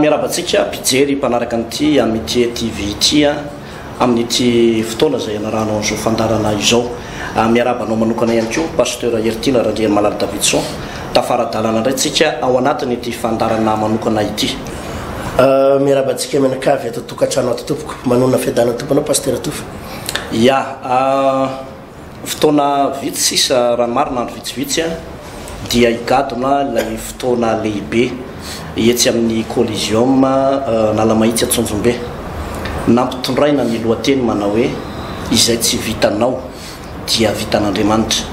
Miarahaba antsika mpijery mpanaraka an'ity Amitié TV ity amin'ity fotoana izay ianaranao an'izao fandaharana izao. Miarahaba anao manokana ihany koa Pasteur Heritiana Randrianimalala Davidson. Tafara adalana indray tsika ao anatin'ity fandaharana manokana ity. Miarahaba antsika mianakavy ato an-tokantrano ato tompoko. Manonona fiadanan'ny Tompo anao Pasteur Tofa. Ia, fotoana vitsy sisa, raha ny marina andro vitsivitsy, dia higadona ilay fotoana lehibe etsy amin'ny Coliseum Analamahitsy Antsonjombe. Nampitondraina ny lohateny manao hoe Izay tsy vitanao dia vitan'Andriamanitra.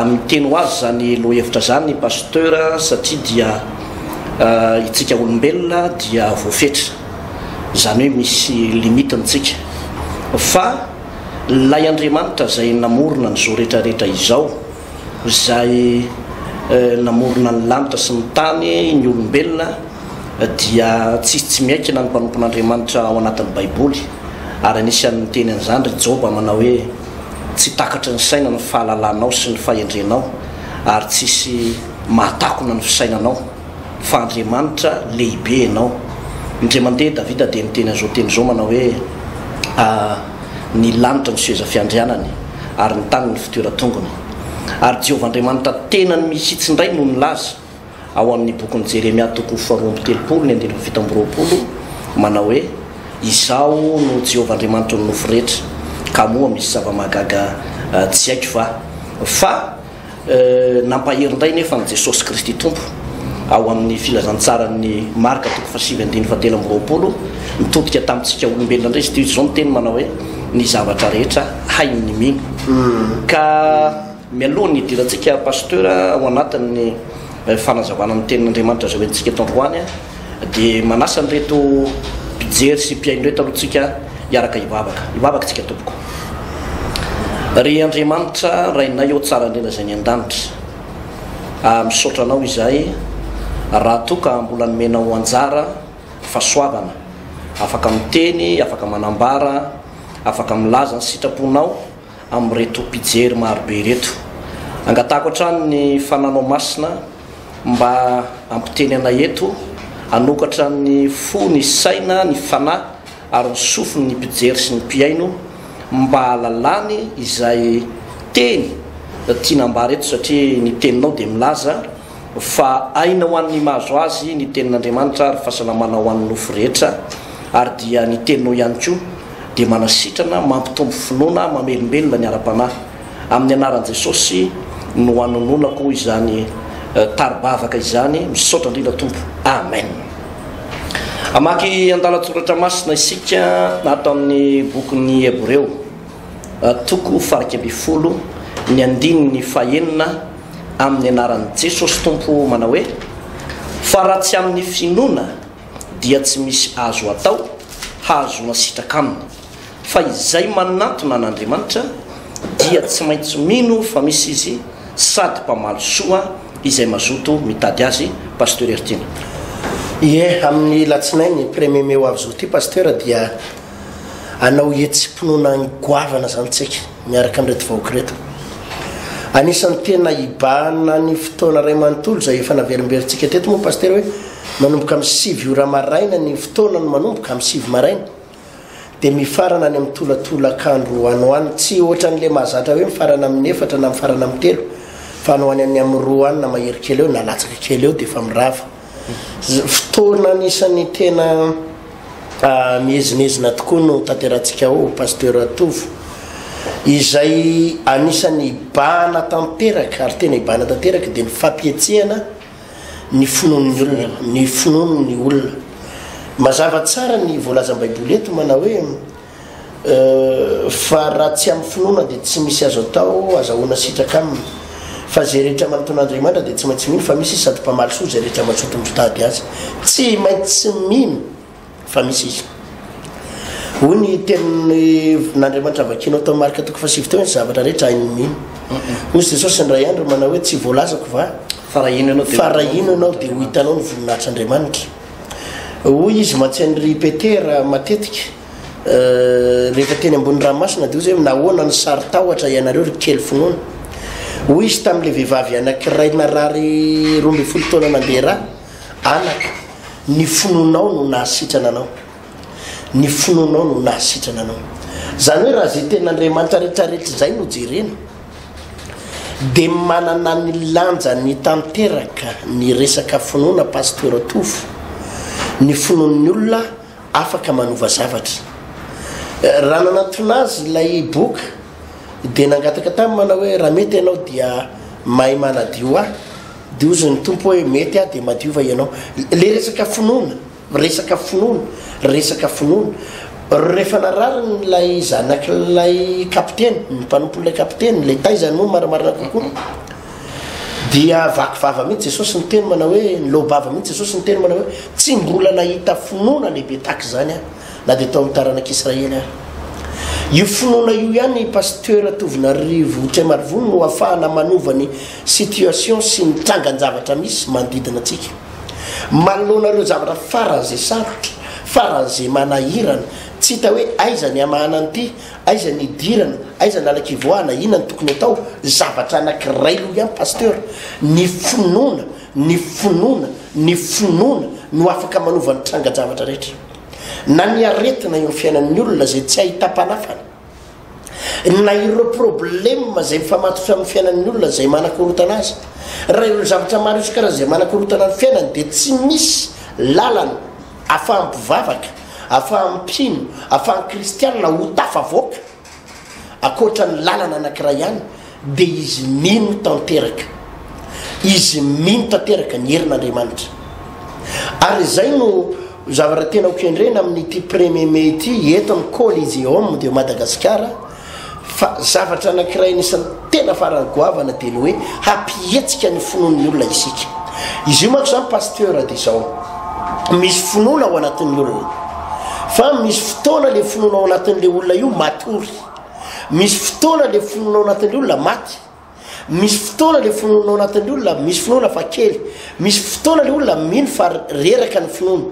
Miteny ho azy izany lohahevitra izany i Pasteur satria dia isika olombelona dia voafetra. izany hoe misy limite ny tsika fa ilay Andriamanitra izay namorona ny zo rehetra rehetra izao izay namorona ny lanitra sy ny tany ny olombelona dia tsisy tsy miaikina ny mpanompon'Andriamanitra ao anatin'ny baiboly ary anisan'ny miteny an'izany ry Joba manao hoe tsy takatry ny saina ny fahalalanao sy ny fahendrenao ary tsisy mahatakona ny fisainanao fa Andriamanitra lehibe ianao. Indray mandeha Davida dia niteny an'izao teny izao manao hoe, A, ny lanitra no seza fiandrianany, ary ny tany ny fitoeran-tongony. Ary Jehovah Andriamanitra tenany mihitsy indray no nilaza, ao amin'ny bokin'i Jeremia toko faharoa amby telopolo ny andininy fito amby roapolo, manao hoe, Izaho no Jehovah Andriamanitry ny nofo rehetra, ka moa misy zava-mahagaga tsy haiko va? Fa. Nampahery indray nefa an'i Jesosy Kristy Tompo ao amin'ny filazantsaran'ny Marka toko fahasivy andiny fahatelo amby roapolo, nitodika tamintsika olombelona indray izy ity, izao ny teny manao hoe ny zavatra rehetra hain'ny mino. Ka mialohan'ny hidirantsika Pasteur ao anatin'ny fanazavana ny tenin'Andriamanitra izay hoentintsika eto androany, Dia manasa an'ireto mpijery sy mpihaino ireto aloha tsika hiaraka hivavaka. Hivavaka tsika tompoko. Ry Andriamanitra Rainay ô Tsara indrindra izay any an-danitra. Ah misaotra Anao izahay raha toa ka mbola nomenao anjara fahasoavana afaka miteny, afaka manambara, afaka milaza ny sitraponao amin'ireto mpijery marobe ireto. Angatahako hatrany ny fananao masina. mba hampiteny anay eto, hanokatra ny fo, ny saina, ny fanahy ary ny sofiny ny mpijery sy ny mpihaino mba hahalalany izay teny tiana ambara eto satria ny teninao dia milaza fa aina ho an'ny mahazo azy ny tenin'Andriamanitra ary fahasalamana ho an'ny nofo rehetra ary dia ny teninao ihany koa dia manasitrana, mampitombo finoana, mamelombelona ny ara-panahy. Amin'ny anaran'i Jesosy no anononako izany tari-bavaka izany, misaotra indrindra Tompo, Amen. Hamaky andalan-tsoratra masina isika ato amin'ny bokin'ny Hebreo, toko fahaika ambin'ny folo, ny andininy fahenina, amin'ny anaran'i Jesosy Tompo, manao hoe, fa raha tsy amin'ny finoana dia tsy misy azo atao hahazoana sitraka aminy. fa izay manatona an'Andriamanitra dia tsy maintsy mino fa misy Izy sady mpamaly soa izay mazoto mitady Azy, Pasteur Heritiana. Ie, amin'ny latsinainy premier mai ho avy zao ty Pasteur dia hanao hetsi-pinoana goavana zany tsika miaraka amin'ireto vahoaka ireto. Anisan'ny tena hibahana ny fotoana iray manontolo izay efa naverimberintsika teto moa Pasteur hoe manomboka amin'ny sivy ora maraina ny fotoana no manomboka, amin'ny sivy maraina. dia mifarana any amin'ny tolatolakandro any ho any tsy ohatran'ilay mahazatra hoe mifarana amin'ny efatra na mifarana amin'ny telo fa any ho any any amin'ny roa any na mahery kely eo na latsaka kely eo dia efa mirava fotoana anisan'ny tena ah, mihezinezina tokoa no tanterantsika ao pasteur tovo izay anisan'ny ibahana tanteraka ary tena ibahana tanteraka dia ny fampihetsehana ny finoan'ny olona, ny finoan'ny olona. Mazava tsara ny voalazan'ny Baiboly eto manao hoe fa raha tsy amin'ny finoana dia tsy misy azo atao, azahoana sitraka aminy. Fa izay rehetra manontona Andriamanitra dia tsy maintsy mino fa misy izy sady mpamaly soa izay rehetra mazoto mitady azy. Tsy maintsy mino. fa misy izy. Hoy ny tenin'Andriamanitra vakianao tao Marka toko fahasivy teo, ny zavatra rehetra hain'ny mino. Hoy Jesosy indray andro manao hoe tsy voalazako va? Farahino ianao, farahino ianao dia ho hitanao ny voninahitr'Andriamanitra. Hoy izy mantsy ry Petera matetika euh, rehefa teny ambony ranomasina dia hoy zay nahoana ny sary tahotra ianareo ry kely finoana. Hoy izy tamin'ilay vehivavy anankiray narary roa ambin'ny folo taona nandeha raha Anaka, ny finoanao no nahasitrana anao. Ny finoanao no nahasitrana anao. Izany hoe raha izay tena Andriamanitra rehetra rehetra izay no jerena, dia manana ny lanjany tanteraka ny resaka finoana Pasteur Tovo. Ny finoan'ny olona afaka manova zavatra. Raha nanatona azy ilay boka, dia nangataka taminy manao hoe, Raha mety ianao dia mahay manadio ahy. Dia hozy ny Tompo hoe, Mety aho dia madiova ianao. Ilay resaka finoana, resaka finoana, resaka finoana. Rehefa narariny ilay zanak'ilay kapiteny, ny mpanompon'ilay kapiteny, ilay taizany moa marimarina kokoa, dia vaky vava mihitsy Jesosy niteny manao hoe, niloa-bava mihitsy Jesosy niteny manao hoe, Tsy mbola nahita finoana lehibe tahaka izany aho. na dia tao amin'ny taranak'i Israely ary. Io finoana io ihany Pasteur Tovinarivo Tremarivony no afahana manova ny situation sy ny trangan-javatra misy manodidina antsika. Manoloana ireo zavatra faran'izay sarotra, faran'izay manahirana, tsy hita hoe aiza ny hamahana an'ity, aiza ny hidirana, aiza ny halan-kivoahana, inona ny tokony atao, zavatra anankiray io ihany Pasteur, ny finoana, ny finoana, ny finoana no afaka manova ny trangan-javatra rehetra. na ny aretina eo fiainan'ny olona izay tsy ahitam-panafana, na ireo problema izay mifamatotra amin'ny fiainan'ny olona izay manakorotana azy, raha ireo zavatra maro isan-karazany izay manakorotana ny fiainany dia tsy misy lalana ahafahan'ny mpivavaka, ahafahan'ny mpino, ahafahan'ny kristianina ho tafavoaka. Ankoatra ny lalana anankiray ihany dia izy mino tanteraka. Izy mino tanteraka ny herin'Andriamanitra. Ary izay no zavatra tena ho kendrena amin'ity premier mai ity eto amin'ny Coliseum de Madagasikara fa zavatra anankiray anisan'ny Tena farany goavana dia ny hoe hampihetsika ny finoan'ny olona isika. Izy io manko izany Pasteur dia izao. Misy finoana ao anatin'ny olona. Fa misy fotoana ilay finoana ao anatin'ilay olona io matory. Misy fotoana ilay finoana ao anatin'ny olona maty. Misy fotoana ilay finoana ao anatin'ny olona misy finoana fa kely. Misy fotoana ilay olona mino fa reraka ny finoana.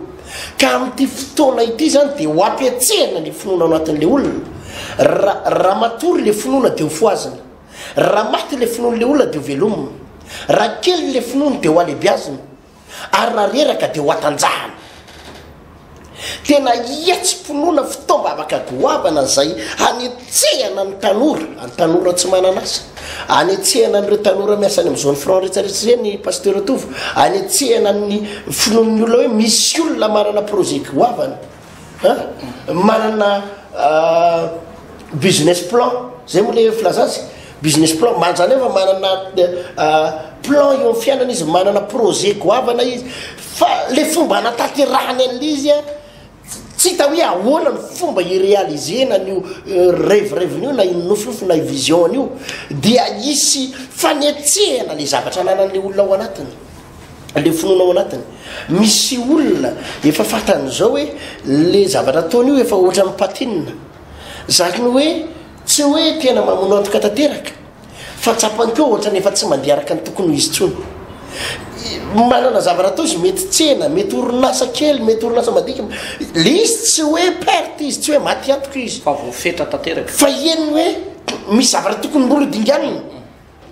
ka amin'ity fotoana ity izany dia ho ampiatsehana ny finoana ao anatin'ilay olona ra raha matory ilay finoana dia ho foazina raha maty ilay finoan'ilay olona dia ho velomina raha kely ilay finoany dia ho alebiazina ary raha reraka dia ho atanjahana tena hiatsim-pinoana fitaom-bavaka goavana izay any Tsehana ny tanora, ny tanora tsy manan'asa. Anetsehana an'ireo tanora miasa any amin'ny zone franc rehetrarehetra ireny Pasteur Tovo. Anetsehana ny finoan'ny olona hoe misy olona manana projet goavana an, manana business plan, zay moa le filazana azy, business plan, man- zany hoe efa manana plan eo amin'ny fiainana izy, manana projet goavana izy, fa le fomba anatanterahany an'ilay izy an, Tsy hita hoe ahoana ny fomba hi-realiser-na an'io rêve-rêve-ny io na io nofinofy na io vision-ny io dia hisy fanetsehana ilay zavatra ananan'ilay olona ao anatiny, ilay finoana ao anatiny. Misy olona efa fantany izao hoe ilay zavatra ataony io efa ohatran'ny patinina. Izany hoe tsy hoe tena mamonoantoka tanteraka. Fa tsapany koa ohatrany efa tsy mandeha araka ny tokony ho izy intsony. Manana zavatra atao izy, mety tsena, mety orinasa kely, mety orinasa madinika. Le izy tsy hoe perte izy, tsy hoe maty antoka izy. Fa voafetra tanteraka. Fa hiany hoe misy zavatra tokony mbola ho dinganina,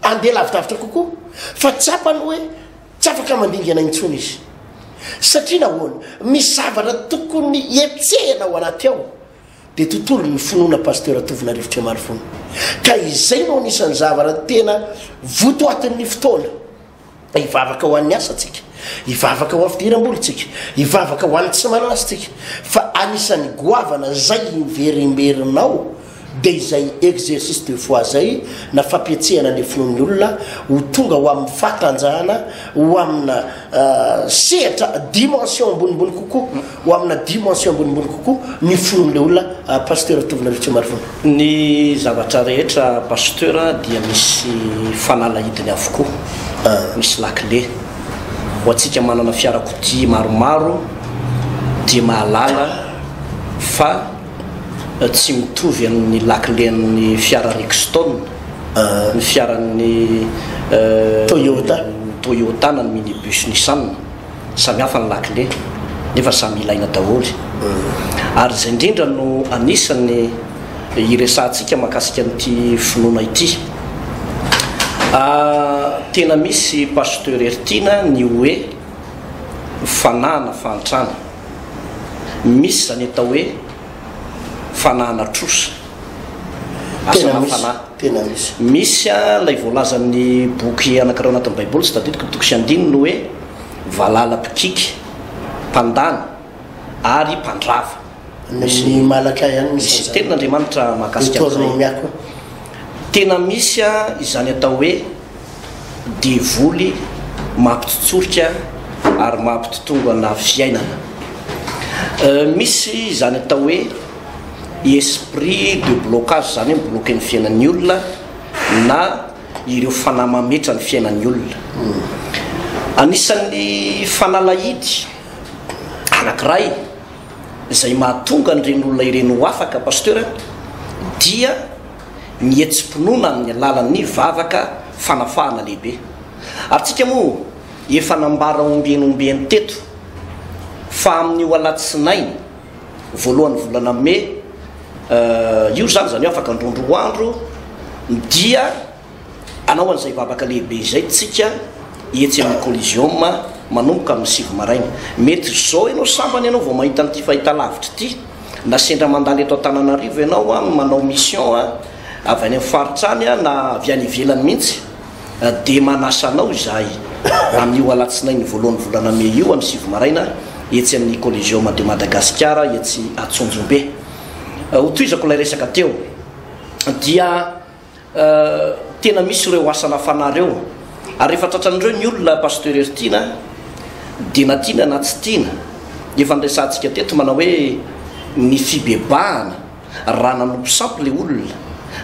handeha lavidavitra kokoa. Fa tsapany hoe tsy afaka mandingana intsony izy. Satria nahoana? Misy zavatra tokony hetsehina ao anaty ao. Dia tontolo ny finoana Pasteur Tovona Rivotriamarivony. Ka izay no anisan'ny zavara tena votoatin'ny fotoana. Hivavaka ho an'ny asantsika, hivavaka ho an'ny fidiram-bolintsika, hivavaka ho an'ny tsy manana asantsika. Fa anisan'ny goavana izay imberemberinao dia izay exercice de foi izay na fampietsehana ny finoan'ny olona ho tonga ho amin'ny fahatanjahana ho amina sehatra dimension ambonimbony kokoa. ho amina dimension ambonimbony kokoa ny fon'ilay olona Pasteur Tovona Ratsimarivony. Ny zavatra rehetra Pasteur dia misy fanalahidiny avokoa, misy lakile. Ho antsika manana fiarakodia maromaro dia mahalala fa tsy mitovy amin'ny lakilen'ny fiara Rexton ny fiaran'ny Toyota na ny minibus Nissan. Samy hafa ny lakile nefa samy ilaina daholo. Ary izay indrindra no anisan'ny hiresahantsika mahakasika an'ity finoana ity. Tena misy Pasteur Heritiana ny hoe fanahana fahantrana. Misy izany atao hoe. fanahana trosa, asana fanahy. Tena misy. Misy ilay voalazan'ny boky anankiray ao anatin'ny Baiboly, tsy tadidiko ny toko sy andininy, hoe valala mpikiky, mpandany ary mpandrava. Misy malaka ihany misy an'izany. Misy tenin'Andriamanitra mahakasika an'izay. Deuteronomia koa. Tena misy izany atao hoe. devoly mampitotsorika ary mampitotongana fiainana. Misy izany atao hoe esprit de blocage izany hoe mi-bloquer ny fiainan'ny olona na ireo fanahy mametra ny fiainan'ny olona. Anisan'ny fanalahidy anankiray izay mahatonga an'ireny olona ireny ho afaka Pasteur dia ny hetsi-pinoana amin'ny alalan'ny vavaka fanafahana lehibe. Ary tsika moa efa nambara ombieny ombieny teto fa amin'io alatsinainy voalohan'ny volana mey io izany, izany hoe afaka indroa indroa andro, dia. Hanao an'izay vavaka lehibe izay tsika etsy amin'ny Coliseum manomboka amin'ny sivy maraina. Mety izao ianao sambany ianao vao mahita an'ity fahitalavitra ity, na sendra mandalo eto Antananarivo ianao an, manao mission an, avy any amin'ny faritra any na avy any ivelany mihitsy, dia manasa anao izahay amin'io alatsinainy voalohan'ny volana mey io amin'ny sivy maraina etsy amin'ny Coliseum de Madagasikara etsy Antsonjombe. Ho tohizako ilay resaka teo dia. Tena misy ireo asana fanahy ireo ary rehefa tratran'ireo ny olona Pasteur Heritiana dia na tiana na tsy tiana dia efa niresahantsika teto manao hoe ny fibebahana raha nanompo sampy ilay olona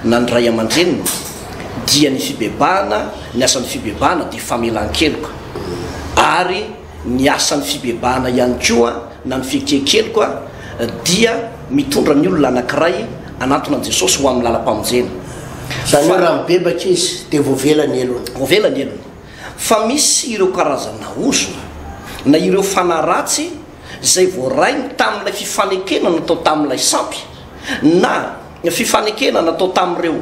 na ny ray aman-dreniny dia ny fibebahana ny asan'ny fibebahana dia famelan-keloka ary Ny asan'ny fibebahana ihany koa na ny fiekiekeloka dia mitondra ny olona anankiray hanantona an'i Jesosy ho amin'ny lalam-pamonjena. Izany hoe raha mibebaka izy dia voavela ny helony. Voavela ny helony. Fa misy ireo karazana ozona na ireo fanahy ratsy izay voaray tamin'ilay fifanekena natao tamin'ilay sampy na fifanekena natao tamin'ireo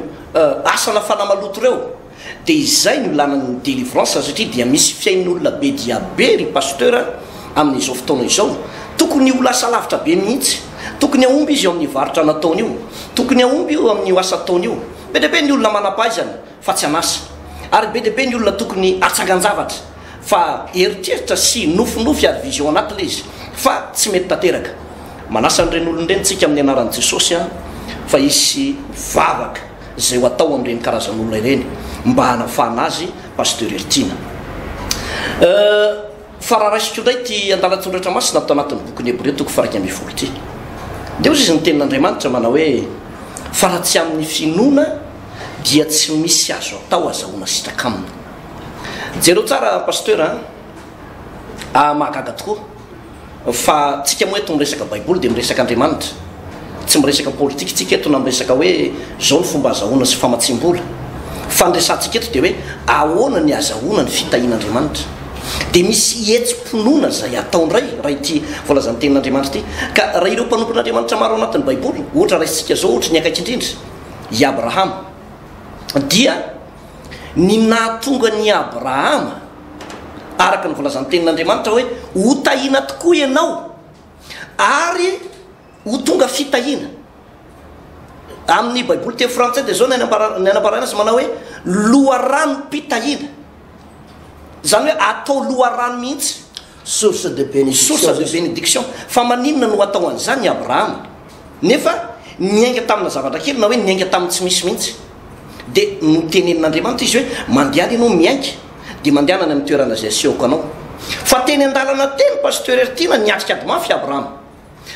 asa nafana maloto ireo. Dia izay no lanan'ny delivrance satria dia misy fiain'olona be dia be ry Pasteur a, amin'izao fotoana izao. Tokony ho lasa lavitra be mihitsy. Tokony hahomby izy eo amin'ny varotra nataony io. Tokony hahomby io amin'io asa ataony io. Be dia be ny olona manam-pahaizana fa tsy an'asa. Ary be dia be ny olona tokony hatsangan-javatra fa eritreritra sy nofinofy ary vision anaty ilay izy fa tsy mety tanteraka. Manasa an'ireny olona ireny tsika amin'ny anaran'i Jesosy a fa hisy vavaka. izay ho atao amin'ireny karazan'olona ireny mba hanafahana azy Pasteur Heritiana euh, fa raha raisiko indray ity andalan-tsoratra masina ato anatin'ny bokin'ny Hebreo toko faraika ambin'ny folo ity dia hozy izy ny tenin'Andriamanitra manao hoe fa raha tsy amin'ny finoana dia tsy misy azo atao azahoana sitraka aminy jereo tsara Pasteur a ah, mahagaga tokoa Fa tsika moa eto miresaka baiboly dia miresaka Andriamanitra. Tsy miresaka politika tsika eto na miresaka hoe zao ny fomba azahoana sy famatsiam-bola. Fa ny resahantsika eto dia hoe ahoana ny azahoana ny fitahiana Andriamanitra. Dia misy hetsi-pinoana izay atao indray raha ity voalazan'ny tenin'Andriamanitra ity. Ka raha ireo mpanompon'Andriamanitra maro ao anatin'ny baiboly ohatra raisintsika izao ohatra ny akaiky indrindra i Abrahama dia ny nahatonga an'i Abrahama araka ny voalazan'ny Tenin'Andriamanitra hoe, Hotahina tokoa ianao ary ho tonga fitahiana. Amin'ny Baiboly teny frantsay dia izao ny anambarana azy, manao hoe loharanom-pitahiana, izany hoe atao loharano mihitsy. Source de bénédiction. Source de bénédiction. Fa maninona no hatao an'izany i Abrahama? Nefa niainga tamina zavatra kely na hoe niainga tamin'ny tsy misy mihitsy. Dia notenenin'Andriamanitra izy hoe, Mandeha any ianao miainga, dia mandehana any amin'ny toerana izay asehoko anao. Fa teny an-dalana teny Pasteur Ertina niatrika ady mafy i Abrahama.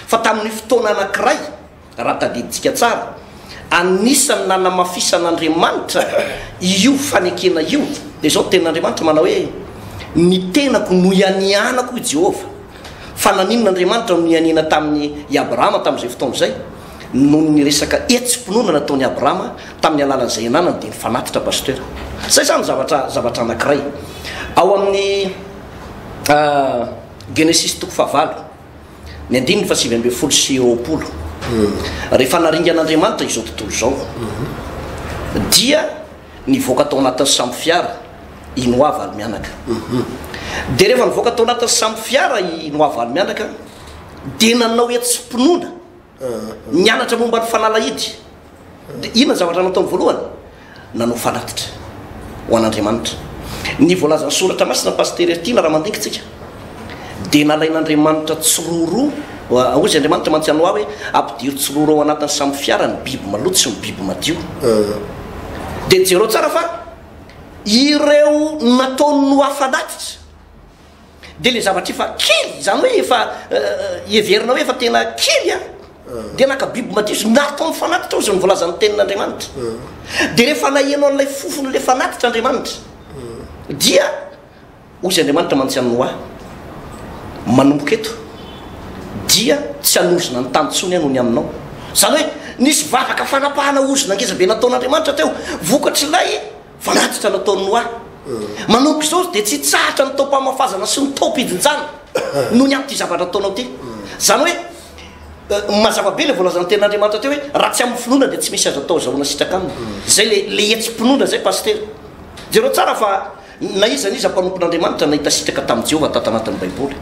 Fa tamin'ny fotoana anankiray Raha tadidintsika tsara, anisan'ny nanamafisan'Andriamanitra io fanekena io, dia izao ny tenin'Andriamanitra, manao hoe, Ny tenako noianianako, hoy Jehovah. Fa naninona Andriamanitra no nianiana tamin'i Abrahama tamin'izay fotoana izay? Noho ny resaka hetsi-pinoana nataon'i Abrahama tamin'ny alalan'izay ananany, dia nifanatitra, Pasteur. Izay izany zavatra, zavatra anankiray. Ao amin'ny Genesisy toko fahavalo. Ny andininy fahasivy ambin'ny folo sy roapolo. Rehefa naringan'Andriamanitra izao tontolo izao, dia nivoaka tao anatin'ny sambo fiara i Noa valo-mianaka. Dia rehefa nivoaka tao anatin'ny sambo fiara i Noa valo-mianaka, dia nanao hetsi-pinoana. Nianatra momba ny fanalahidy. Dia inona ny zavatra nataony voalohany? Nanao fanatitra ho an'Andriamanitra. Ny voalazan'ny Soratra Masina, Pasitera Ertina, raha mandinka tsika, dia nalain'Andriamanitra tsiroroa, hoy izy, Andriamanitra mantsy an'i Noa hoe, Ampidiro tsiroroa ao anatin'ny samy fiara ny biby maloto sy ny biby madio. Dia jereo tsara fa ireo nataon'i Noa fanatitra. dia ilay zavatra efa kely, izany hoe efa heverina hoe efa tena kely an, dia naka biby madio izy, nary tao amin'ny fanatitra hozy ny voalazan'ny tenin'Andriamanitra. Dia rehefa naheno an'ilay fofon'ilay fanatitra Andriamanitra, dia hozy Andriamanitra mantsy an'i Noa, manomboka eto dia tsy hanozona ny tany intsony aho noho ny aminao. Izany hoe nisy vavaka fanapahana ozona ngeza be nataon'Andriamanitra teo, vokatr'ilay Fanatitra no ataon'ny hoa. Manomboka izao dia tsy hitsahatra ny taom-pamafazana sy ny taom-pijinjana noho ny amin'ity zavatra ataonao ity. Izany hoe mazava be ilay voalazan'ny tenin'Andriamanitra teo hoe raha tsy amin'ny finoana dia tsy misy azo atao azahoana sitraka aminy. Izay ilay ilay hetsi-pinoana izay Pasitera. Jereo tsara fa na iza na iza mpanompon'Andriamanitra nahita sitraka tamin'i Jehovah tato anatin'ny Baiboly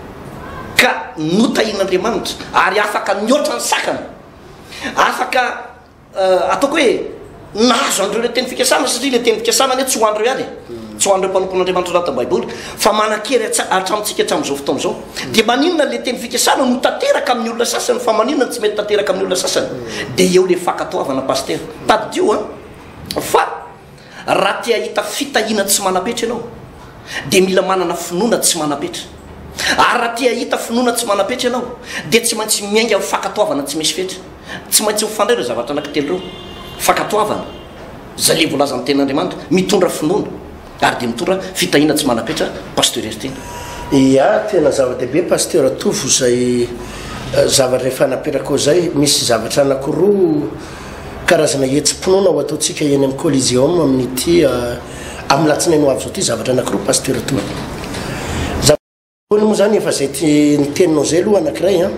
ka notahian'Andriamanitra ary afaka nihoatra ny sakana. Afaka. Ataoko hoe nahazo an'ireo ilay teny fikasana satria ilay teny fikasana anie tsy ho an'ireo ihany e. Hmm. Tsy ho an'ireo mpanompon'Andriamanitra anatin'ny Baiboly fa manan-kery hatramintsika hatramin'izao fotoana izao. Hmm. Dia maninona ilay teny fikasana no tanteraka amin'ny olona sasany fa maninona no tsy mety tanteraka amin'ny olona sasany? Hmm. Dia eo ilay fankatoavana pastera. Tadidio a fa Raha te hahita fitahiana tsy manam-petra ianao, dia mila manana finoana tsy manam-petra. Ary raha te hahita finoana tsy manam-petra ianao, dia tsy maintsy miainga amin'ny fankatoavana tsy misy fetra. Tsy maintsy mifandray ireo zavatra anankitelo ireo, fankatoavana, izay ilay voalazan'ny Tenin'Andriamanitra, mitondra finoana, ary dia mitondra fitahiana tsy manam-petra, Pasteur Heriteny. Ia, tena zava-dehibe Pasteur Tovo izay zavatra efa napetraka ho izay. Misy zavatra anankiroa. Karazana hetsi-pinoana ho ataontsika eny amin'ny Coliseum amin'ity amin'ny latsinainy ho avy izao ity zavatra anankiroa Pasteur Tony. Zavatra voalohany moa izany efa izay ny teninao izay aloha anankiray an.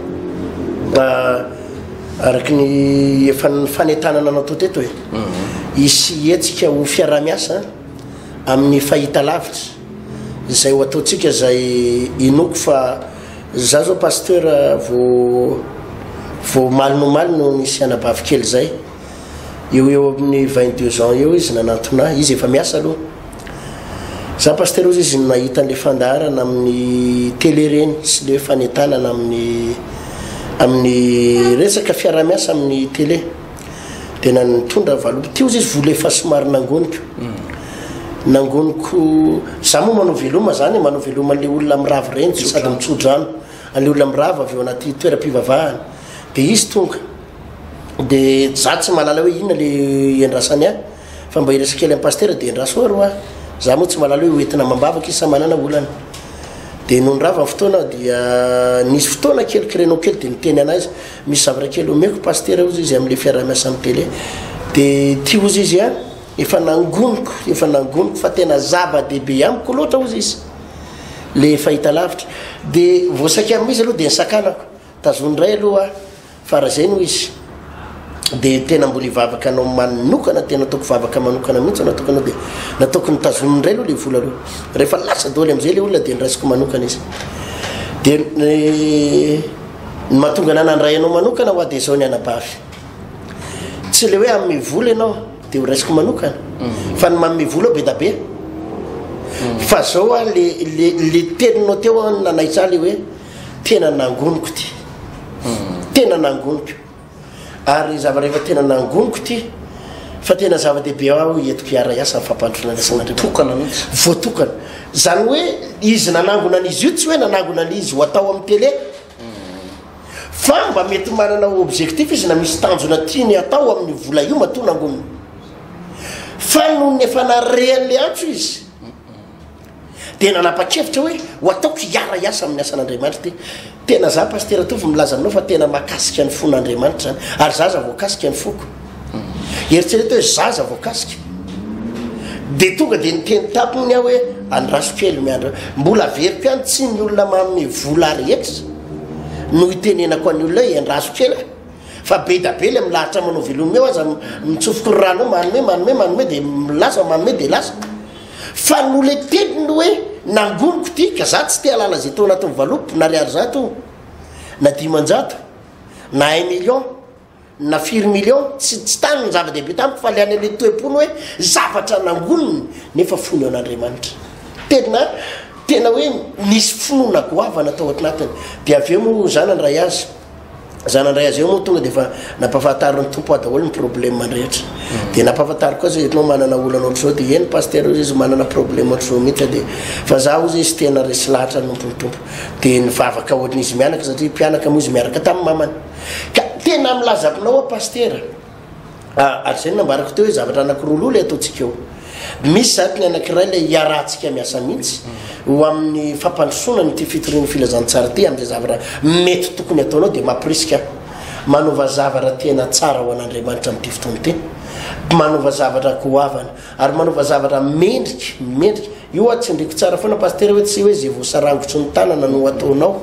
Araka ny efa ny fanetana nanao tao teto e. Hisy hetsika ho fiaraha-miasa amin'ny fahitalavitra izay ho ataontsika izay inoako fa Za zao pasteur vo vo omaly no omaly no nisy anabavy kely zay eo eo amin'ny vingt deux ans eo izy nanantona ahy izy efa miasa aloha za pasteur ozy izy nahita an'le fandaharana amin'ny télé reny sy le fanetanana amin'ny amin'ny resaka fiarahamiasa amin'ny télé dia na nitondra valopy teo izy vola efa somary nangoniko hmm. nangoniko za moa manao veloma zany manao veloma le olona mirava reny de sady mitsodrano ale olona mirava avy eo anaty toeram-pivavahana de izy tonga de za tsy malala hoe inona le endrasany a fa mba iresa kely am pastera de endraso aro a za moa tsy malala hoe hoentina mambavaka izy sa manana olana de nonirava ny fotoana dia nisy fotoana kely kirenao kely de niteny anay izy Misy zavatra kely omeko Pasitera ozy izy amle fiarahamiasa am tele de ty ozy izy a efa nangoniko efa nangoniko fa tena zava dehibe amiko loatra ozy izy le fahita lavitra de voasaika am izy aloha de nisakanako tazony ndray aloha a fa raha zay no izy de tena mbola hivavaka anao manokana tena ataoko vavaka manokana mihitsy anao tokony de nataoko ny tazony ndray aloha le vola aloha rehefa lasa doly amzay le olona de ndraisiko manokana izy de Ny mahatonga anah nandray anao manokana hoa dia izao ny anabavy. Tsy ilay hoe hanome vola ianao dia ho raisiko manokana. Mm. Fa ny manome vola be da be. Mm. Fa izao hoa le, le, le teninao teo hoa nanaitsa le hoe tena nangoniko ty. Mm. Tena nangoniko. ary ny zavatra efa tena nangoniko ity fa tena zava-dehibe aho entiko hiara-hiasa ny fampandrosoana ny asan'Andriamanitra voatokana zany hoe izy nanangona an'izy io tsy hoe nanangona an'izy ho atao amin'ny tele fa mba mety manana objectif izy na misy tanjona tiany atao amin'ny vola io matoa nangonina fa noho ny efa narehan'le antso izy dia nanapa-kevitra hoe ho ataoko hiara hiasa amin'ny asan'Andriamanitra ity. Tena za Pasitera Tovo milaza aminao fa tena mahakasika ny fon'Andriamanitra izany ary za aza voakasika ny foko. Eritrereto hoe za aza voakasika. Dia tonga dia niteny taminy aho hoe andraso kely miandra. Mbola averiko ihany tsy ny olona manome vola rehetra no hitenenako an'ny olona hoe andraso kely e. fa be da be le milahatra manao velomeo aza mitsofoko ny rano manome manome manome dia milaza manome dia lasa. Fa noletebiny ny hoe nangoniko ity ka za tsy te halala zay teo anatin'ny valopy nariary zato na dimanjato na un million na firy million tsy tsy tany ny zava-dehibe tamiko fa le any le toe-pony hoe zavatra nangoniny nefa fony eo an'Andriamanitra tena tena hoe nisy finoana goavana tao atinatiny de avy eo moa zana ny ray azy Za nandray azy eo moa tonga dia efa nampahafantarin'ny tompo ahy daholo ny problème rehetra. Mm. Dia nampahafantariko koa zay eto manana olana ohatr'izao dia eny pasteur izy manana problème ohatr'izao mihitsy dia fa za hozy izy tena resy lahatra nompo ny tompo. Dia nivavaka ohatrin'izy mianaka satria mpianaka moa izy miaraka tamin'ny mamany. Ka tena milazako nao aho pasteur. Ary izay no nambarako teo hoe zavatra anankiroa loha ilay ataontsika eo. Misy zany ny anankiray ilay hiarahantsika miasa mihitsy mm. ho amin'ny fampandrosoana an'ity fitorian'ny filazantsara ity amin'izay zavatra mety tokony ataonao dia mampirisika manova zavatra tena tsara ho an'Andriamanitra amin'ity fotoana ity. Manova zavatra goavana. Ary manaova zavatra mendrika, mendrika. Io hoa tsindriko tsara foana Pasitera hoe tsy hoe izay voasarangotry ny tanana no ataonao.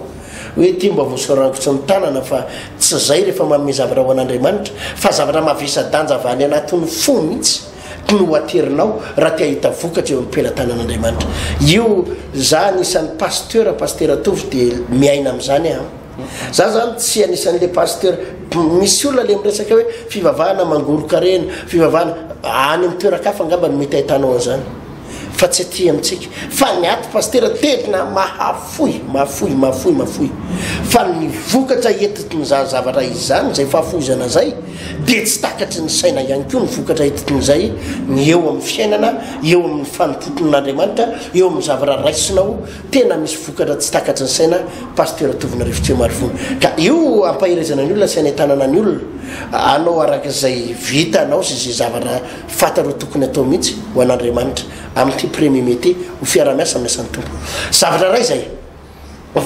Hoe ity mba voasarangotry ny tanana fa tsy izay rehefa manome zavatra ho an'Andriamanitra. Fa zavatra mavesa-danja avy any anatin'ny fo mihitsy no aterinao raha te hahita vokatra eo amin'ny pelatanan'Andriamanitra. Io, izaho anisan'ny Pasteur, Pasitera Tovo dia miaina amin'izany aho. Za zany tsy anisan le pasteur misy olona le miresaka hoe fivavahana mangoron-karena fivavahana any amin'ny toeran-kafa angamba no mety ahitanao an'izany fa tsy aty amintsika fa ny aty pasteur tena mahafoy mahafoy mahafoy mahafoy fa ny vokatra etitin' izany zavatra izany izay fahafoizana zay dia tsy takatry ny saina ihany koa ny vokatra etitin' izay ny eo amin'ny fiainana eo amin'ny fanompoton'Andriamanitra eo amin'ny zavatra raisinao Tena misy vokatra tsy takatry ny saina Pasteur Tovona Rivotsy Marivony ka io ampaherezana ny olona sy anentanana ny olona hanao araka izay vitanao sy izay zavatra fantany ho tokony atao mihitsy ho an'Andriamanitra amin'ity premier mai ity ho fiarahamiasa amin'ny asan'ny Tompo zavatra iray izay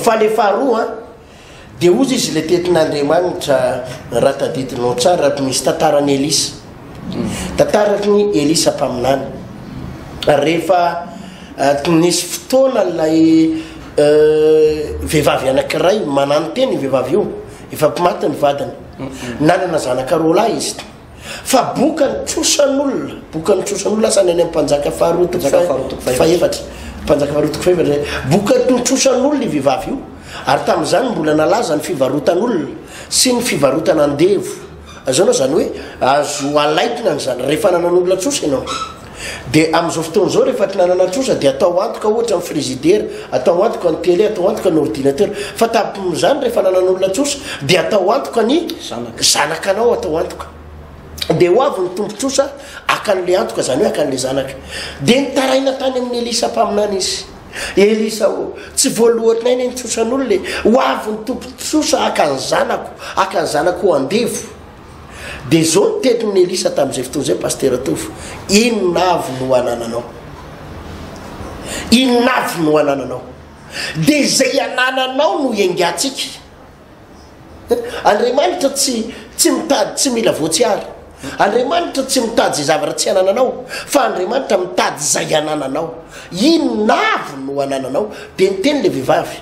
fa le faharoa Dia ozy izy le tetin Andriamanitra raha tadidinao tsara misy tantaran Elisa. Tantaran i Elisa mpaminany. Ary rehefa nisy fotoana ilay vehivavy anankiray mananontena io vehivavy io, efa maty ny vadiny. Nanana zanaka roa lahy izy. Fa boka ny trosan'olona, boka ny trosan'olona asa ny any ampanjaka faharoa toko fahefatra, mpanjaka faharoa toko fahefatra zay, boka ny trosan'olona i vehivavy io, ary tamin'izany mbola nalaza ny fivarotan'olona sy ny fivarotana andevo, azonao zany hoe azo alaikina ny zany rehefa nanan'olona trosa ianao. Dia amin'izao fotoana izao rehefa tsy nanana trosa dia atao antoka ohatra ny frizidera, atao antoka ny tele, atao antoka ny ordinateur. Fa tapomin'izany rehefa nanan'olona trosa dia atao antoka ny zanakanao atao antoka. Dia ho avy ny tompon-trosa haka an'ilay antoka, izany hoe haka an'ilay zanaka. Dia nitaraina tany amin'i Elisa mpaminany izy. Elisa ô, tsy voalohanay ny nitrosan'olona e! Ho avy ny tompon-trosa haka ny zanako, haka ny zanako ho andevo. Dia izao no tenin'i Elisa tamin'izay fotoana izay, Pasitera Tovo, Inona avy no anananao? Inona avy no anananao? Dia izay anananao no iengantsika. Andriamanitra tsy tsy mitady tsy mila voatsiary. Andriamanitra tsy mitady izay zavatra tsy anananao, fa Andriamanitra mitady izay anananao. Inona avy no anananao? Dia niteny ilay vehivavy,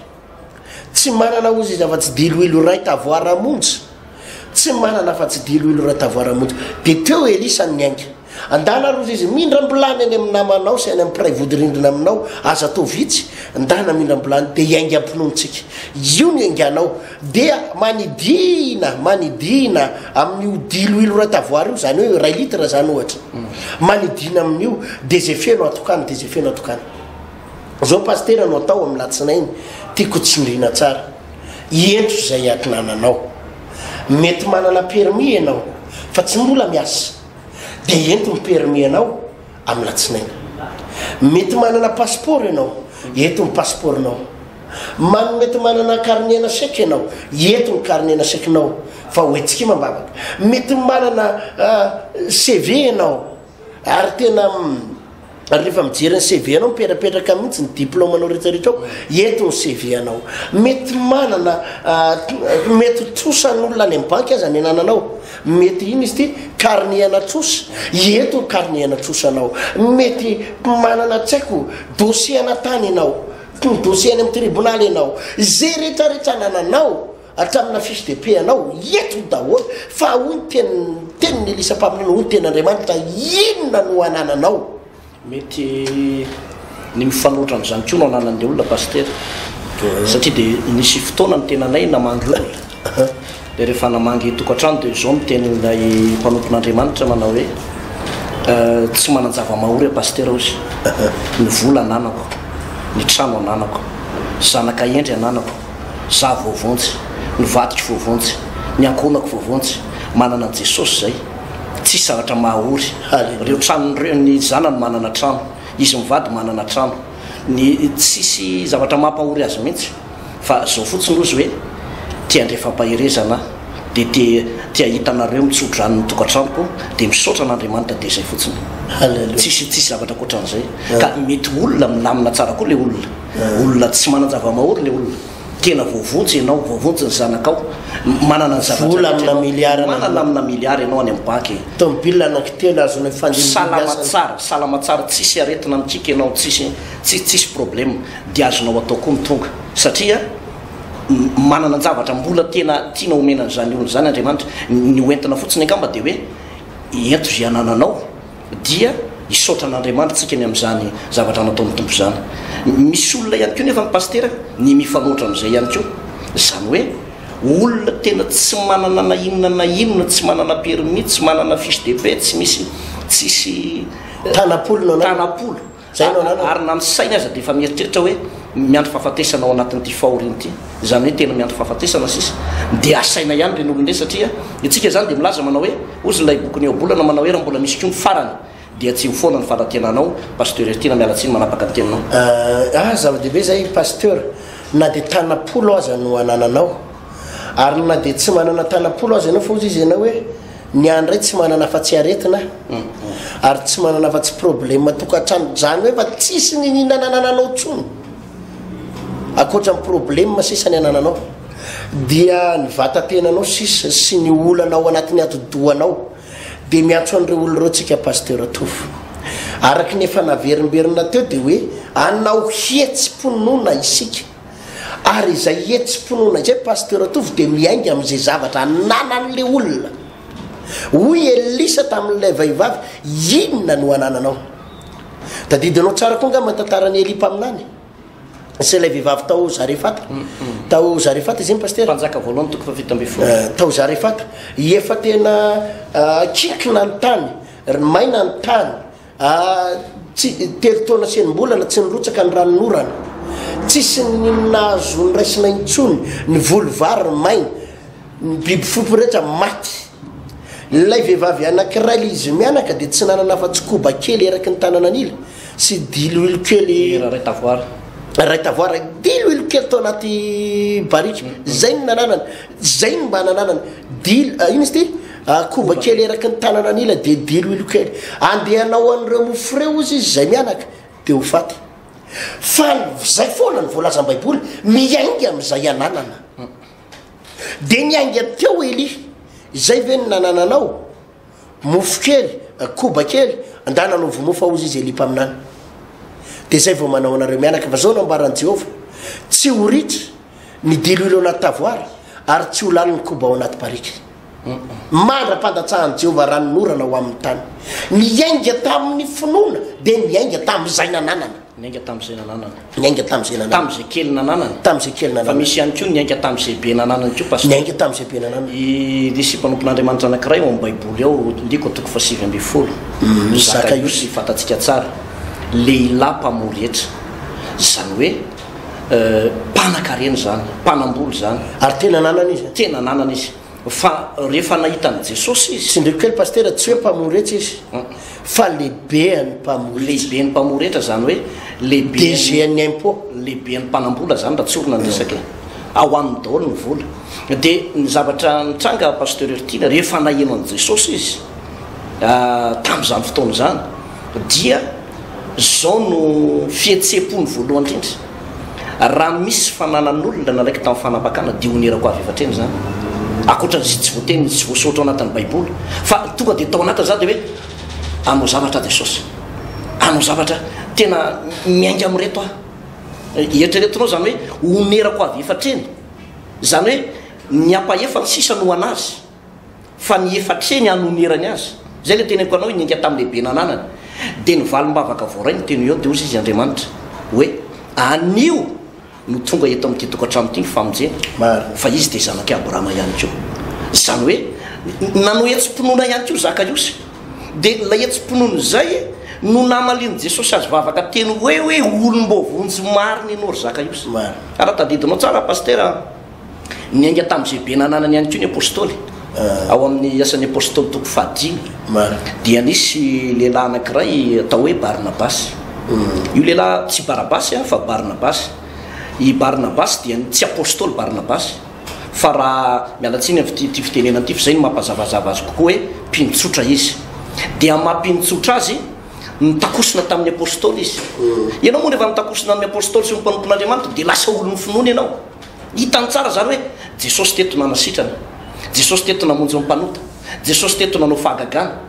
Tsy manana ozy izy afa-tsy diloilo iray tavoara monja. Tsy manana afa-tsy diloilo iray tavoara monja. Dia teo Elisa no niainga. Ndana ary ozy izy, mindram-bilany any amin'ny namanao sy any amin'ny mpiray vodirindrina aminao, aza atao vitsy, ndana mindram-bilany, dia hiainga am-pinoantsika. Io no ianganao. Dia manidina, manidina amin'io diloilo iray tavoara io, izany hoe iray litre izany ohatra. Manidina amin'io, dia izay feno atokany, dia izay feno atokany. Zao pasitera no atao amin'ny latsinainy tiako tsindrina tsara ientso izay atinananao mety manana permis ianao fa tsy mbola miasa de ento ny permis anao amin'ny latsinainy mety manana passeport ianao ento ny passeport nao man mety manana carnet na sec ianao ento ny carnet na sec nao fa hoentsikima mbavaka mety manana ah, CV ianao Ary tena rehefa mijery ny CV anao mipetrapetraka mihitsy ny diplôme anao rehetrarehetra ao eto ny CV anao mety manana ah, mety trosa n'olona any amin'ny banky aza ny anananao mety iny izy ty carnet ana trosa eto ny carnet ana trosa anao mety manana tsy haiko dossier ana tany ianao dossier any amin'ny tribonaly ianao izay rehetrarehetra anananao Hatramina fiche de paie anao ietony daholo fa hoy ny teny teniny Elisa mpaminany hoy ny teny Andriamanitra inona no anananao. Mety ny mifanohitra amin'izany koa no ananan'ilay olona Pasitera satria dia nisy fotoana ny tenanay namangy olona dia rehefa namangy tokantrano dia izao no tenin'ilay mpanompon'Andriamanitra nanao hoe tsy manan-javamahory aho Pasitera hozy, ny vola ananako, ny trano ananako, zanaka hendry ananako. Za voavonjy, ny vadiko voavonjy, ny ankohonako voavonjy, manana an'i Jesosy zay, tsisy zavatra mahaory, reo tranony reo, ny zanany manana trano, izy mivady manana trano, ny tsisy zavatra mampahory azy mihitsy, fa zao fotsiny ozy hoe te handre fampaherezana aho, de te te hahita anareo mitsodrano ny tokantranoko, de misaotra an'Andriamanitra de zay fotsiny, tsisy tsisy zavatra ankoatran'izay, ka mety olona milamina tsara koa le olona. Olona tsy manan-javamahory le olona. Tena voavonjy enao, voavonjy ny zanakao. Manana ny zavatra rehetra enao. Vola amina milliard enao. Manana amina milliard enao any amin'ny banky e. Tomobile anaky telo azonao hifandimby ny asany. Salama tsara, salama tsara, tsisy aretina mikiky enao, tsisy, tsisy, tsisy problème. Dia azonao atao koa ny tonga. Satria manana an-javatra mbola tena tiana omena an'izany olona izany Andriamanitra. Ny ho entina fotsiny angamba dia hoe ento izay anananao. Dia hisaotra an'Andriamanitra tsika ny amin'izany zavatra nataon'ny Tompo izany. Misy olona ihany koa nefa ny Pasitera ny mifanoatra amin'izay ihany koa. Izany hoe olona tena tsy manana na inona na inona, tsy manana permis, tsy manana fiche de paie, tsy misy, tsisy tanam-polo. Ary na ny sainy aza dia efa mieritreritra hoe miandry fahafatesana ao anatin'ity fahoriany ity, izany hoe tena miandry fahafatesana sisa. Dia asaina ihany ireny olona ireny satria isika izany dia milaza manao hoe, hozy ilay bokin'i Eobolana manao hoe raha mbola misy koa ny farany dia tsy ho foana ny fanantenanao. Pasteur Heritiana miala tsiny manapaka ny teninao. Ah, zava-dehibe izay Pasteur, na dia tana-polo aza no anananao. ary na dia tsy manana tanam-polo aza ianao fa ozy izy ianao hoe ny ahy indray tsy manana afa-tsy aretina mm. ary tsy manana afa-tsy problema tokantrano zany hoe fa tsisy ny ninananananao tsony akoatra ny problema sisa ny anananao dia ny vatatenanao sisa sy ny olana ao anatin'ny atodohanao dia miantso an'ireo olo ireo tsika pastera tofo araka ny efa naverimberina teo dia hoe anao hihetsi-ponona isika Ary izay hetsi-pinoana izay Pasteur Tovo dia miainga amin'izay zavatra ananan'ilay olona. Hoy Elisa tamin'ilay vehivavy, Inona no anananao? Tadidinao tsara koa angamba ny tantaran'i Elia mpaminany sy ilay vehivavy tao Zarefata. Tao Zarefata izy iny Pasteur. Mpanjaka voalohany toko fahafito ambin'ny folo. Eh, tao Zarefata. Efa tena eh, kinkina ny tany, ry maina ny tany. Tsy telo taona sy enim-bolana tsy nirotsaka ny ranonorana, tsisy n'inona azo noraisina intsony, ny voly vary maina, ny biby fiompy rehetra maty. Ilay vehivavy anankiray ilay izy mianaka dia tsy nanana afa-tsy koba kely eraky ny tanana an'ila sy diloilo kely iray tavoara iray tavoara diloilo kely tao anaty barika, izay no nananany. Zay no mba nananany. Dilo, ah, ino izy ty? Ah, koba kely eraky ny tanana an'ila dia dilo ilo kely. Andeha hanao an'ireo mofo ireo ozy izy izay mianaka dia ho faty. Fa zay foana ny voalazan'ny Baiboly, miainga amin'izay ananana. Dia niainga teo Elia. Izay ve no nanananao? mofo kely, koba kely, andahy nanaovy mofo ao hozy izy Elia mpaminany. Dia izay vao manao anareo mianaka, fa izao no ambaran'i Jehovah, Tsy ho ritra ny diloilo ao anaty tavoara, ary tsy ho lany ny koba ao anaty barika. Mandra-pandatsahan'i Jehovah ranon'orana ho amin'ny tany. Niainga tamin'ny finoana dia niainga tamin'izay nananana. Niainga tamin'izay nananany. Niainga tamin'izay nananany. Tamin'izay kely nananany. Tamin'izay kely nananany. Fa misy ihany koa niainga tamin'izay be nananany koa Pasteur. Niainga tamin'izay be nananany. I nisy mpanompon'Andriamanitra anankiray ao amin'ny Baiboly ao, ndiko toko fahasivy ambin'ny folo, Zakaiosy, fantatsika tsara, lehilahy mpamoha rehetra. Izany hoe mpanakarena izany, mpanambola izany. Ary tena nanana izy an? Tena nanana izy. Fa rehefa nahita an'i Jesosy izy. Tsindriko kely Pasitera, tsy hoe mpamory rehetra izy fa lehibean'ny mpamory rehetra. Lehiben'ny mpamory rehetra izany hoe lehiben'ny. DGN'ny impôt. Lehiben'ny mpanam-bola izany raha tsorina ny resaka e. Ao aminy daholo ny vola. Dia ny zavatra nitranga Pasteur Hertila, rehefa naheno an'i Jesosy izy tamin'izany fotoana izany dia izao no fihetseham-pony voalohany indrindra. Raha misy fananan'olona nanaiky tamin'ny fanambakana dia honerako avy efa hatreny izany, ankoatran'izay tsy voateny sy tsy voasoratra ao anatin'ny Baiboly, fa tonga dia tao anatin'izany dia hoe, Hanao zavatra aho Jesosy, hanao zavatra tena miainga amin'ireto aho. Eritreretinao izany hoe honerako avy efa hatreny, izany hoe ny hampahefa ny sisa no ho an'azy. fa ny efa hatreny hanonerany azy. Izay ilay teneniko anao, hininga tamin'ny lehibe nananany. Dia ny valim-bavaka voaray no teny eo, dia hoy izy, Andriamanitra, hoe, Anio no tonga eto amin'ity tokantrano ity ny famonjena, fa izy dia zanak'i Abrahama ihany koa. Izany hoe, nanao hetsi-pinoana ihany koa Zakaiosy. Dia ilay hetsi-pinoana izay no namalian'i Jesosy azy vavaka teny hoe, hoe olom-boavonjy marina ianao ry Zakaiosy. Ary tadidinao tsara Pasitera a! Niainga tamin'izay be nananany ihany koa ny Apôstôly. Ao amin'ny Asan'ny Apôstôly toko fahadimy dia nisy lehilahy anankiray atao hoe Barnabasy. Io lehilahy tsy Barabasy fa Barnabasy. I Barnabasy dia ny tsy Apôstôly Barnabasy fa raha miala tsiny amin'ity fitenenana ity fa izay no mampazavazava azy kokoa hoe mpino tsotra izy. Dia amin'ny maha mpino tsotra azy, nitakosona tamin'ny Apôstôly izy. Ianao moa rehefa nitakosona amin'ny Apôstôly sy ny mpanompon'Andriamanitra dia lasa olon'ny finoana ianao. Hitany tsara zany hoe Jesosy teto nanasitrana, Jesosy teto namonjy ny mpanota, Jesosy teto nanao fahagagana.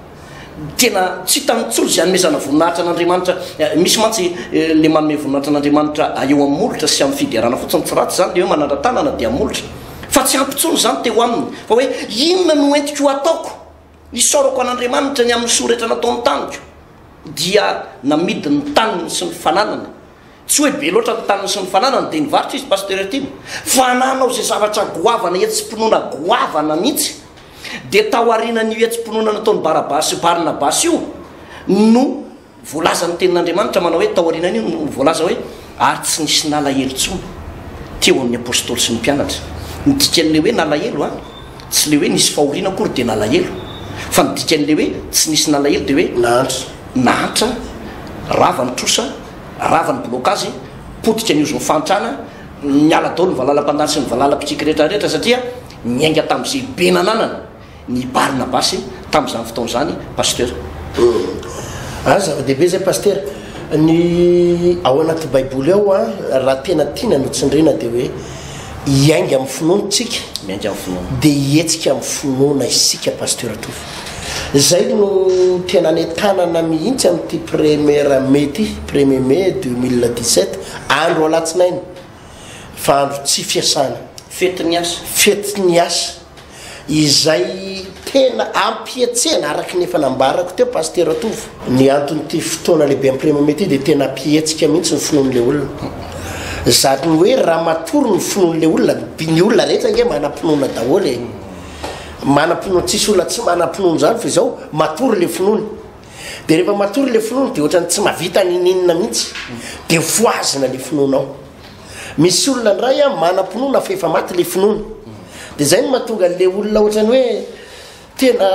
Tena tsy hitany intsony izay hanomezana voninahitra an'Andriamanitra. Misy mantsy le manome voninahitra an'Andriamanitra eo amin'ny molotra sy amin'ny fiderana fotsiny, tsy ratsy izany le hoe manandra-tanana dia molotra, fa tsy ampy intsony izany teo aminy fa hoe inona no entiko hataoko hisaorako an'Andriamanitra ny amin'ny soa rehetra nataony tamiko dia namidiny ny taniny sy ny fananany. Tsy hoe be loatra ny taniny sy ny fananany dia nivarotra izy Pasteur Tim fa nanao izay zavatra goavana hetsi-pinoana goavana mihitsy dia tao aorianan'io hetsi-pinoana nataon'i Barabasy sy Barnabasy io no voalazan'ny tenin'Andriamanitra manao hoe tao aorianan'io no voalaza hoe ary tsy nisy nalahelo intsony teo amin'ny Apostoly sy ny mpianatra ny dikan'ilay hoe nalahelo a Tsy le hoe nisy fahoriana akory dia nalahelo fa ny dikan'le hoe tsy nisy nalahelo dia hoe nahantra. Nahantra, rava ny trosa, rava ny blokazy, potika ny ozin'ny fahantrana, niala daholo ny valalampandany sy ny valalapitsiky rehetra rehetra satria niainga tamin'izay be nananana ny Barnabasy tamin'izany fotoana izany Pasteur. Hum. Ah zava-dehibe zay Pasitera. Ny ao anaty baiboly ao an, raha tena tiana no tsindriana dia hoe. Hiainga amin'ny finoana tsika. Miainga amin'ny finoana. Dia hihetsika amin'ny finoana isika Pasteur Tovo. Izay no tena nentanana mihitsy amin'ity premier mai ity, premier mai 2017, andro alatsinainy, fa andro tsy fiasana. Fetin'ny asa. Fetin'ny asa. izay tena ampihetsehana araka ny efa nambarako teo Pasitera Tovo. Ny anton'ity fotoana lehibe ampirimana ity dia tena ampihetsika mihitsy ny finoan'ilay olona. Izany hoe raha matory ny finoan'ilay olona, ny olona rehetra ange manam-pinoana daholo e. Manam-pinoana, tsisy olona tsy manam-pinoana izany fa izao matory ilay finoany. Dia rehefa matory ilay finoany dia ohatran'ny tsy mahavita n'ininona mihitsy, dia voazina ilay finoanao. Misy olona ndray a manam-pinoana fa efa maty le finoana. Dia zay no mahatonga le olona ohatrany hoe tena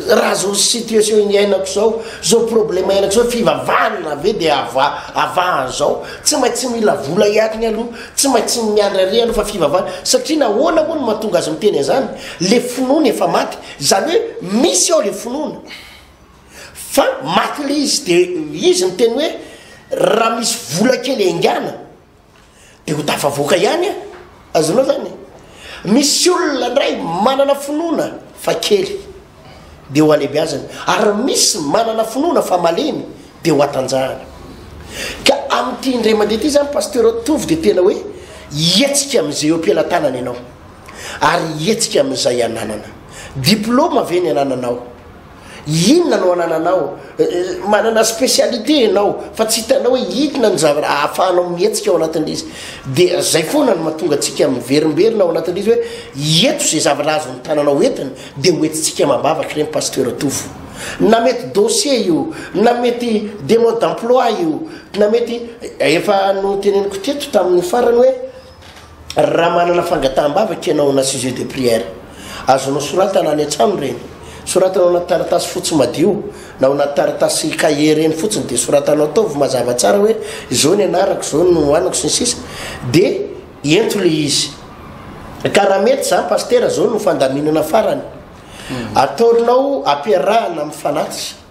raha zao situation iainako zao, zao problème iainako zao fivavahana ve dia ava avaha an'zao? Tsy maintsy mila vola hiatiny aloha, tsy maintsy miandry ary aloha fa fivavahana. Satria nahoana moa no mahatonga azy miteny an'zany? Le finoany efa maty. Zany hoe misy ao le finoana. Fa maty le izy de izy niteny hoe raha misy vola kely engana de ho tafavoaka ihany a azonao zany e misy olona ndray manana finoana fa kely de ho alebiazany ary misy manana finoana fa malemy de ho atanjahany ka amity indray mandeha ty zany pasteur tovy de tena hoe hietsika amizay eo am-pelatanana ianao ary hietsika amizay ananana diploma ve ny anananao Inona no anananao? Manana spécialité ianao fa tsy hitanao hoe inona ny zavatra ahafahanao mihetsika ao anatin'ilay izy. Dia izay foana no mahatonga antsika miverimberina ao anatin'ilay izy hoe hieto izay zavatra azon'ny tananao entina dia hoentintsika amam-bavaka ireny pasteur Tovo. Na mety dossier io, na mety demande d'emploi io, na mety efa noteneniko teto tamin'ny farany hoe Raha manana fangataham-bavaka ianao na sujet de prière, azonao soratana any an-trano ireny. Soratana ao anaty taratasy fotsy madio na ao anaty taratasy cahier ireny fotsiny dia soratanao, ataovy mazava tsara hoe izao ny anarako, izao ny nohaniko sy ny sisa dia ento ilay izy. Ka raha mety izany Pasitera, izao no fandaminana farany, ataonao ampiarahana amin'ny fanatitra.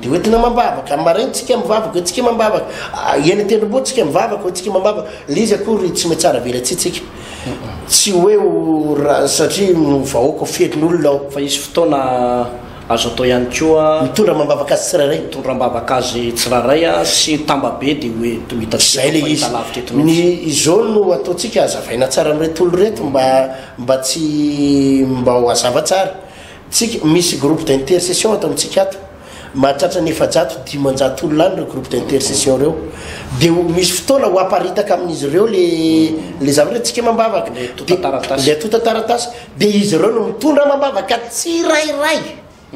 Dia hoentina mambavaka, amin'ny maraina tsika mivavaka, hoentsika mambavaka, eny an-tendrombohitra tsika mivavaka, hoentsika mambavaka, le izy akory tsy mety tsara velatsihy tsika, tsy hoe ho ra, satria ny vahoaka feno olona ao. Fa hisy fotoana azo atao ihany koa. Mitondra mambavaka azy tsirairay. Mitondra mambavaka azy tsirairay a, sy tamba be dia hoe to hita sy Zay le izy. lavitra eto mihitsy. Ny izao no ataontsika, hazavaina tsara amin'ireto olona ireto mba, mba tsy, mba ho hazava tsara. Tsika, misy groupe d'intercession ato amintsika ato, mahatratra ny efajato dimanjato olona any ireo groupe d'intercession ireo, dia ho misy fotoana ho haparitaka amin'izy ireo le le zavatra hoe tsika amam-bavaka, le antontan-taratasy, le antontan-taratasy, dia izy ireo no mitondra amam-bavaka tsirairay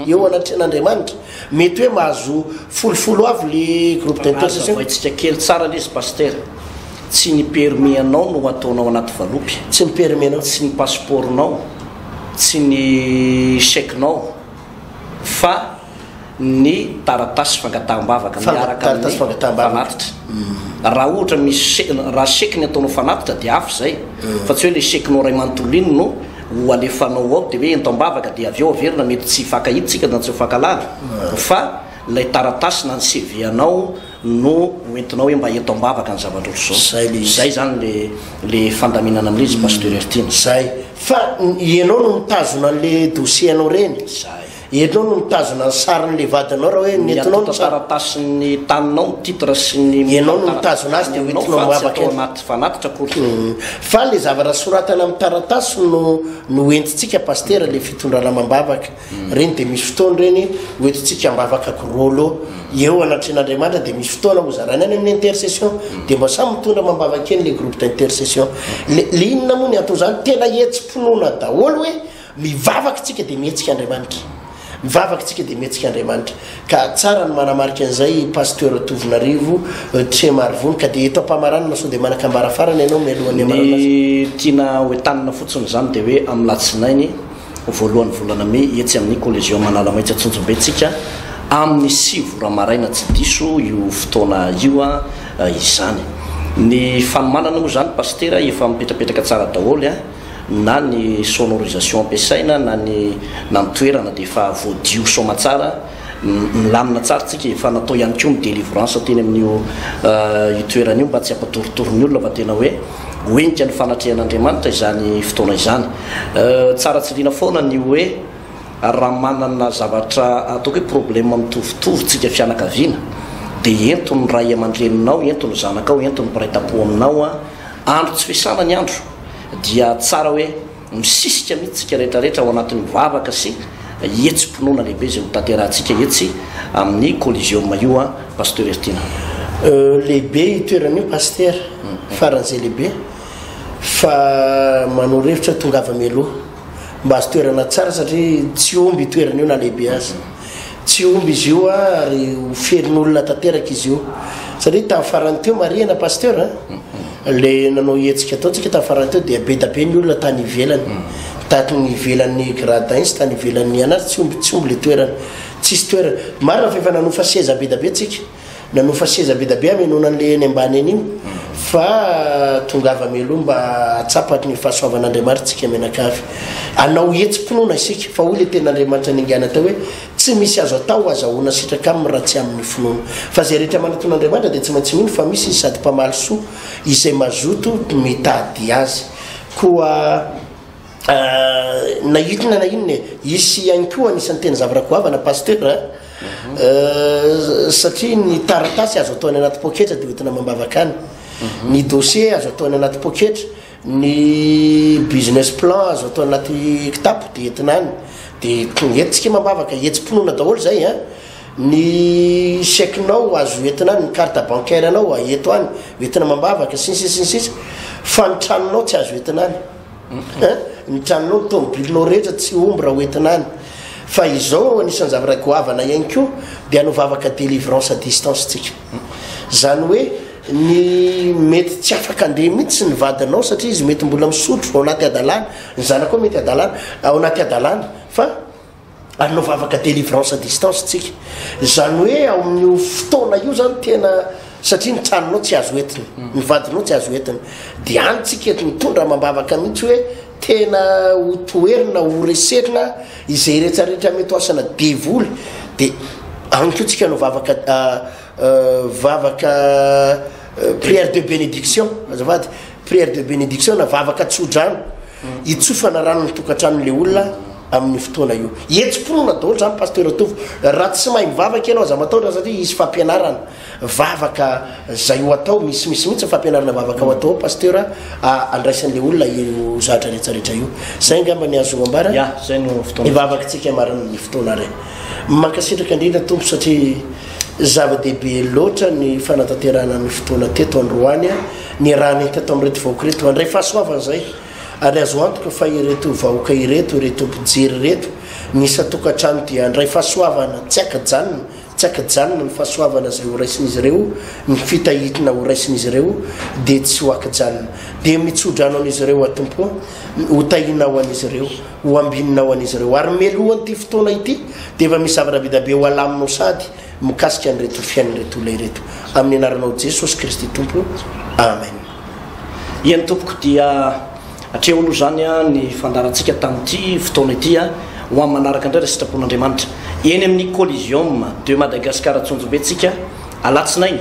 eo anatrehan'Andriamanitra, mety hoe mahazo folofolo avy le groupe d'intercession. Azavaintsika kely tsara le izy Pasitera, tsy ny permis anao no ataonao anaty valopy, tsy ny permis anao, tsy ny passeport-nao, tsy ny chèque-nao fa ny taratasy fangataham-bavaka miaraka amin'ny fanatitra. Raha ohatra misy chèque, raha chèque ny ataonao fanatitra dia hafa izay, fa tsy hoe ilay chèque-nao iray manontolo iny no ho alefanao ao dia hoe ento am-bavaka dia avy eo averina mety tsy hifankahitsika na tsy ho hifankahalala, fa ilay taratasy na ny CV-anao, no ho entinao hoe mba eto ambavaka ny zava-dRojo zao. Zay le izy. Zay zany le le fandaminana an'le izy Pasteur Heritiana. Zay. Fa ianao no mitazona an'le dossier anao reny. Zay. Ianao no mitazona ny sarin'le vadinao raha hoe nentinao ny sary. Miampita taratasin'ny taninao ny titre sy ny. Ianao no mitazona azy de ho entinao ambavaka. Fa tsy atao anaty fanatitra akory. Fa le zavatra soratana amin'ny taratasy no no entintsika Pasteur le fitondranao amam-bavaka. Ireny dia misy fotoana ireny hoentintsika ambavaka ko rôlô eo anatrehan'Andriamanitra dia misy fotoana hozaraina any amin'ny intercession dia mba samy mitondra mambavaka eny le groupe d'intercession le le inona moa ny anton'izany tena hetsi-pinoana daholo hoe mivavaka isika dia mihetsika Andriamanitra mivavaka isika dia mihetsika Andriamanitra ka tsara ny manamarika an'izay pasteur Tovonarivo euh, Trema Arivony ka dia eto am-pamaranana sao dia manan-kambara farany ianao mialohan'ny amarana ny tiana hoentanina fotsiny izany dia hoe amin'ny latsinainy voalohan'ny volana mey etsy amin'ny Coliseum Analamaitsa Tsonjombe tsika amin'ny sivy ora maraina tsy diso io fotoana io izany. Ny fanomanana moa izany Pasitera efa mipetrapetraka tsara daholo a! na ny sonorisation ampiasaina na ny na ny toerana dia efa voadio soamatsara. Milamina tsara tsika e, fa natao ihany koa ny delivrance teny amin'io io toerana io mba tsy hampatoritory ny olona fa tena hoe ho entika ny fanatrehan'Andriamanitra izany fotoana izany. Tsara tsiliana foana ny hoe raha manana zavatra ataoko hoe problème mitovitovy tsika fianakaviana dia ento ny ray aman-dreninao, ento ny zanakao, ento ny mpiray tampo aminao, andro tsy fiasana ny andro dia tsara hoe. Misisika mihitsy isika rehetrarehetra ao anatin'ny vavaka sy hetsi-pinoana lehibe izay ho tanterahantsika etsy amin'ny Coliseum io an, Pasteur Ertina. Lehibe io toerana io Pasitera, faran'izay lehibe fa manoro hevitra tongava mialoha mba azo toerana tsara satria tsy omby io toerana io na lehibe aza. Tsy homby izy io ary ho ferin'olona tanteraka izy io. Satria tamin'ny farany teo, marihina Pasteur a, ilay nanao hetsika ataontsika tamin'ny farany teo dia be dia be ny olona tany ivelany. Tany ivelan'ny gradins, tany ivelan'ny anazy, tsy homby, tsy homby ilay toerana. Tsisy toerana. Marina fa efa nanofa seza be dia be tsika. nanofa seza be da be hamenoana an'le eny ambany eny io fa tongava meloha mba hatsapat ny fahasoavan'Andriamaritrtsika mianakavy anao hetsi-pinoana isika fa hoy le ten'Andriamanitra ningana tao hoe tsy misy azo atao azahoana sitraka aminy raha tsy amin'ny finoana fa zay rehetra manaton'Andriamanitra dia tsy maintsy mino fa misy izy sady mpamaly soa izay mazoto mitady azy koa ah, na inona na inona e hisy ihany koa anisan'ny teny zavarakoavana pasteur satria ny taratasy azo atao any anaty poketra dia hoentina amam-bavaka any mhm. ny dossier azo atao any anaty poketra ny business plan azo atao anaty kitapo dia entina any dia entintsika amam-bavaka hetsi-pinoana daholo zay a ah. ny chequenao azo entina any ny carte bancaire anao aeto ah, any entina amam-bavaka sinsisinsisa fa ny tranonao tsy azo entina any Ny tranonao, ny tomobilinao rehetra tsy homby raha hoentina any. Fa izao anisan'ny zavatra goavana ihany koa dia hanao vavaka délivrance à distance tsika. Izany hoe ny mety tsy afaka andeha mihitsy ny vadinao satria izy mety mbola misotro ao anaty hadalana, ny zanakao mety hadalana, ao anaty hadalana fa ary no vavaka délivrance à distance tsika zany hoe ao amin'io fotoana io zany tena satria ny tranonao tsy azo entiny mm. ny vadinao tsy azo entiny de any tsika eto mitondra mambavaka mihitsy hoe tena ho toerina ho reserina izay iretsarehetra mety hoasana devoly de any ko tsika no vavaka ah, ah, vavaka ah, prière de bénédiction azavady prière de bénédiction na vavaka tsodrano hitsofana rano ny tokantranon'ilay olona amin'io fotoana io. Hetsi-pinoana daholo izany Pasteur Tovo. Raha tsy mahay mivavaka ianao aza matahotra satria hisy fampianarana vavaka izay ho atao, misy misy mihitsy ny fampianarana vavaka ho atao ao Pasteur andraisan'ilay olona io zahatra rehetra rehetra io. Izay angamba ny azo ambara. Ya, izay no fotoana. Hivavakantsika marina ny fotoana ary. Mankasitraka indrindra Tompo satria zava-dehibe loatra ny fanatanterahana ny fotoana teto androany. ny raha nahita tamin'ireto vahoaka ireto mandray fahasoavana izay ary azo antoka fa ireto vahoaka ireto ireto mpijery ireto ny isan-tokantrano dia handray fahasoavana tsy ankajanona tsy ankajanona ny fahasoavana izay horaisin'izy ireo ny fitahitina horaisin'izy ireo dia tsy ho ankajanona dia mitsodrano an'izy ireo atompo ho tahinao an'izy ireo ho ambininao an'izy ireo ary melohan'ity fotoana ity dia efa misy zavatra be dia be ho alaminao sady Mikasika an'ireto fiainan'ireto olona ireto amin'ny anaranao Jesosy Kristy Tompo Amen. Ie ny tompoko dia atreho aloha izany a ny fandaharantsika tamin'ity fotoana ity a ho amin'ny manaraka indray raha sitrapon'Andriamanitra eny amin'ny Coliseum de Madagascar Antsonjombe tsika alatsinainy